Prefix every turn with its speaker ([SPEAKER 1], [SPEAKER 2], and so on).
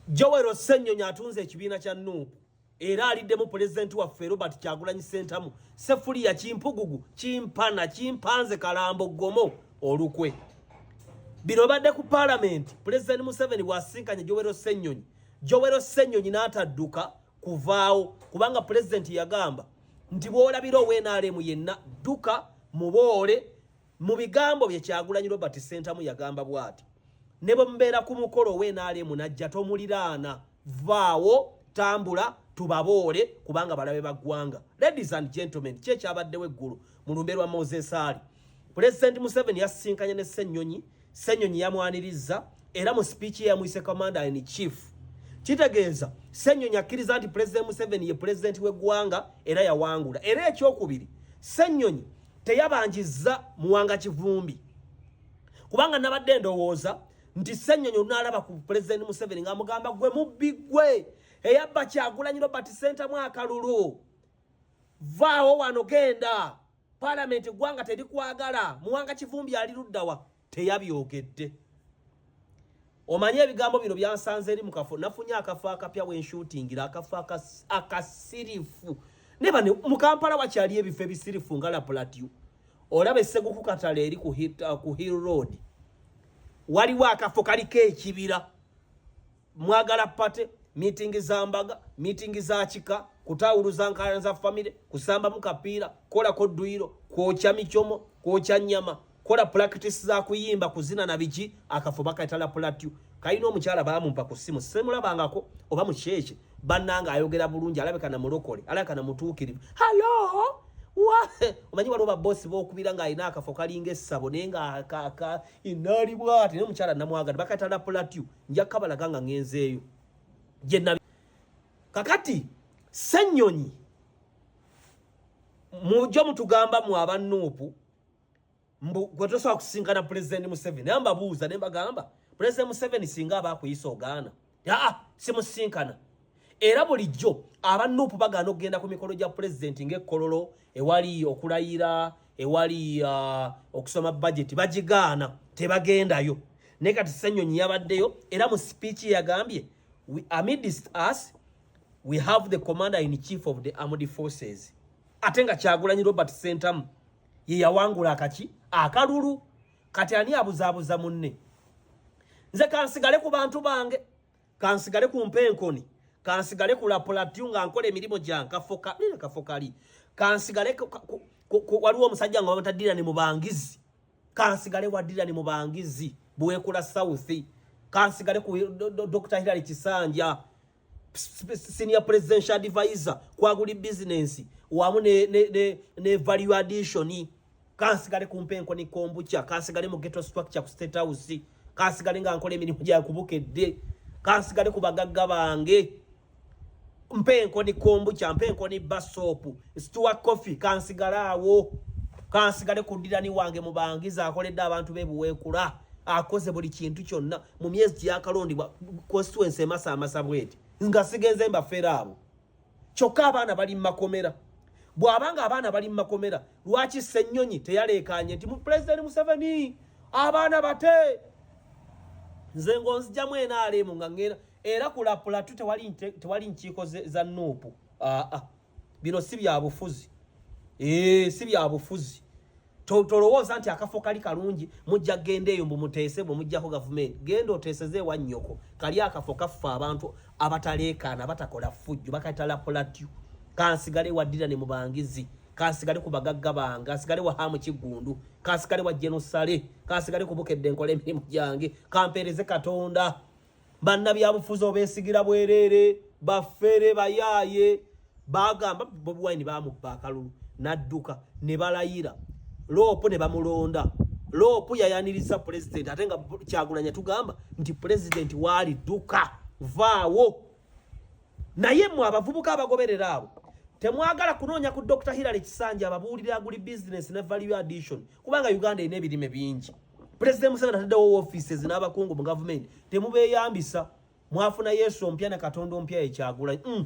[SPEAKER 1] Joel Ossenyonyi atunze ekibiina kya Nup era aliddemu pulezidenti waffe Robert Kyagulanyi Ssentamu Sefuliya Kimpugugu Kimpana Kimpanze Kalambo Gomo olukwe bino badde ku palamenti pulezidenti Museveni bw'asisinkanye Joel Ossenyonyi Joel Ossenyonyi n'atadduka kuvaawo kubanga pulezidenti yagamba nti bw'olabira owenaremu yenna dduka muboole Mu bigambo bye Kyagulanyi Robert Ssentamu yagamba bwati ne bwe mubeera ku mukolo we naale munajja tomuliraana vaawo tambula tubaboole kubanga balabe ba ggwanga ladies and gentlemen kyekyabaddewo eggulu mu lumbe lwa Moses Ali Pulezidenti Museveni yasisinkanye ne Ssenyonyi Ssenyonyi yamwanirizza era mu sipiiki ye yamuyise commander in chief kitegeeza Ssenyonyi akkiriza nti Pulezidenti Museveni ye pulezidenti w'eggwanga era yawangula era ekyokubiri Ssenyonyi teyabanjizza Muwanga Kivumbi kubanga nabadde ndowooza nti Ssenyonyi olunaalaba ku Pulezidenti Museveni ng'amugamba gwe mubbi gwe eyabba Kyagulanyi Robert Ssentamu akalulu vaawo wano genda Parliament gwanga telikwagala muwanga kivumbi ali luddawa teyabyogedde Omanyi ebigambo bino byansanze eri mukafo nafunye akafo akapya we nshootingira akafo akasirifu ne bano mu Kampala wakyali ebifo ebisirifu nga La Plateau olaba esseguku katala eri ku uh, Hill Road waliwo akafo kaliko ekibira mwagala pate miitingi za mbaga miitingi za kika kutaawuluza nkalana za famire kusambamu kapiira kolako dduyiro kwokya micomo kwokya nnyama kola pulakitisi za kuyimba kuzina na biki akafo bakayitala pulatyu kalina omukyala baamumpa ku ssimu semulabangako oba mukyekye bannanga ayogera bulungi alabika na mulokole alabika na mutuukirivu halo omanyi waliwo babosi bokubira ng'alina akafo kalinga essabo naye ng'akaka inaali bwati naye omukyala namwagala bakayitala pulatyu nja kabalaga nga ngenzeeyo gyenabi kakati senyonyi mujo mutugamba mu abanuupu mbu gwe tosobola kusinkana pulezidenti museveni naye mbabuuza ne mbagamba pulezidenti museveni singa aba akuyisa ogaana aa simusinkana era bulijjo aba nuupu bagaana okugenda ku mikolo gya pulezidenti ng'ekkololo ewali okulayira ewali uh, okusoma bajeti bagigaana tebagendayo naye kati senyonyi yabaddeyo era mu sipiiki yagambye amidst us we have the commander in chief of the armed forces ate nga kyagulanyi robert sentamu ye yawangula akaki akalulu kati ani abuzaabuza munne nze kansigale ku bantu bange kansigale ku mpenkoni kansigale ku lapulatyu nga nkola emirimu gyankafoka nina kafokali kansigale waliwo omusajja nga bamata dirani mubangizi kansigale wa dirani mubangizi bwekula south kansigale ku dr hilary kisanja senior presidential advisor kwaguli business wamu ne, ne, ne, ne value addition kansigale ku mpenko ni kombucha kansigale mu ghetto structure ku state house kansigale nga nkola emirimu gya kubukedde kansigale ku bagagga bange mpenko ni kombucha mpenko ni basop stuwa coffee kansigale awo kansigale ku ddirani wange mu bangiza akoledde abantu be buweekula akoze buli kintu kyonna mu myezi gyakalondibwa constituency emasaamasa bweti nga sigenze mbafeera abo kyokka abaana bali mu makomera bw'aba nga abaana bali mu makomera lwaki ssennyonyi teyaleekaanye nti pulezidenti museveni abaana bate nze ng'onzijamu enaaleemu nga ngenda era kulapulatu tewali nkiiko za nuupu aa bino si bya bufuzi ee si bya bufuzi tolowooza nti akafo kali kalungi mujja genda eyo mbu muteese bwe mujjako gavumenti genda oteeseze ewa nnyoko kali akafo kaffe abantu abataleekaana batakola fujjo bakatala polatyo kansigale waddira ne mubangizi kansigale ku bagagga bange kansigale wa hamu kiggundu kansigale wa jenusale kansigale ku bukedde nkola emirimu gyange kampeereze katonda bannabyabufuzi obesigira bwereere bafere bayaaye bagamba bobi wine bamubba akalulu nadduka ne balayira loopu ne bamulonda loopu yayaniriza pulezidenti ate nga kyagunanya tugamba nti pulezidenti waali dduka vaawo naye mwe abavubuka abagoberera abo temwagala kunoonya ku dr hillary kisanja ababuulira aguli business ne value addition kubanga uganda erina ebirime bingi pulezidenti museveni ataddewo offices n'abakungu mu gavumenti temubeeyambisa mwafuna yesu ompya ne katonda ompya ekyagula mm.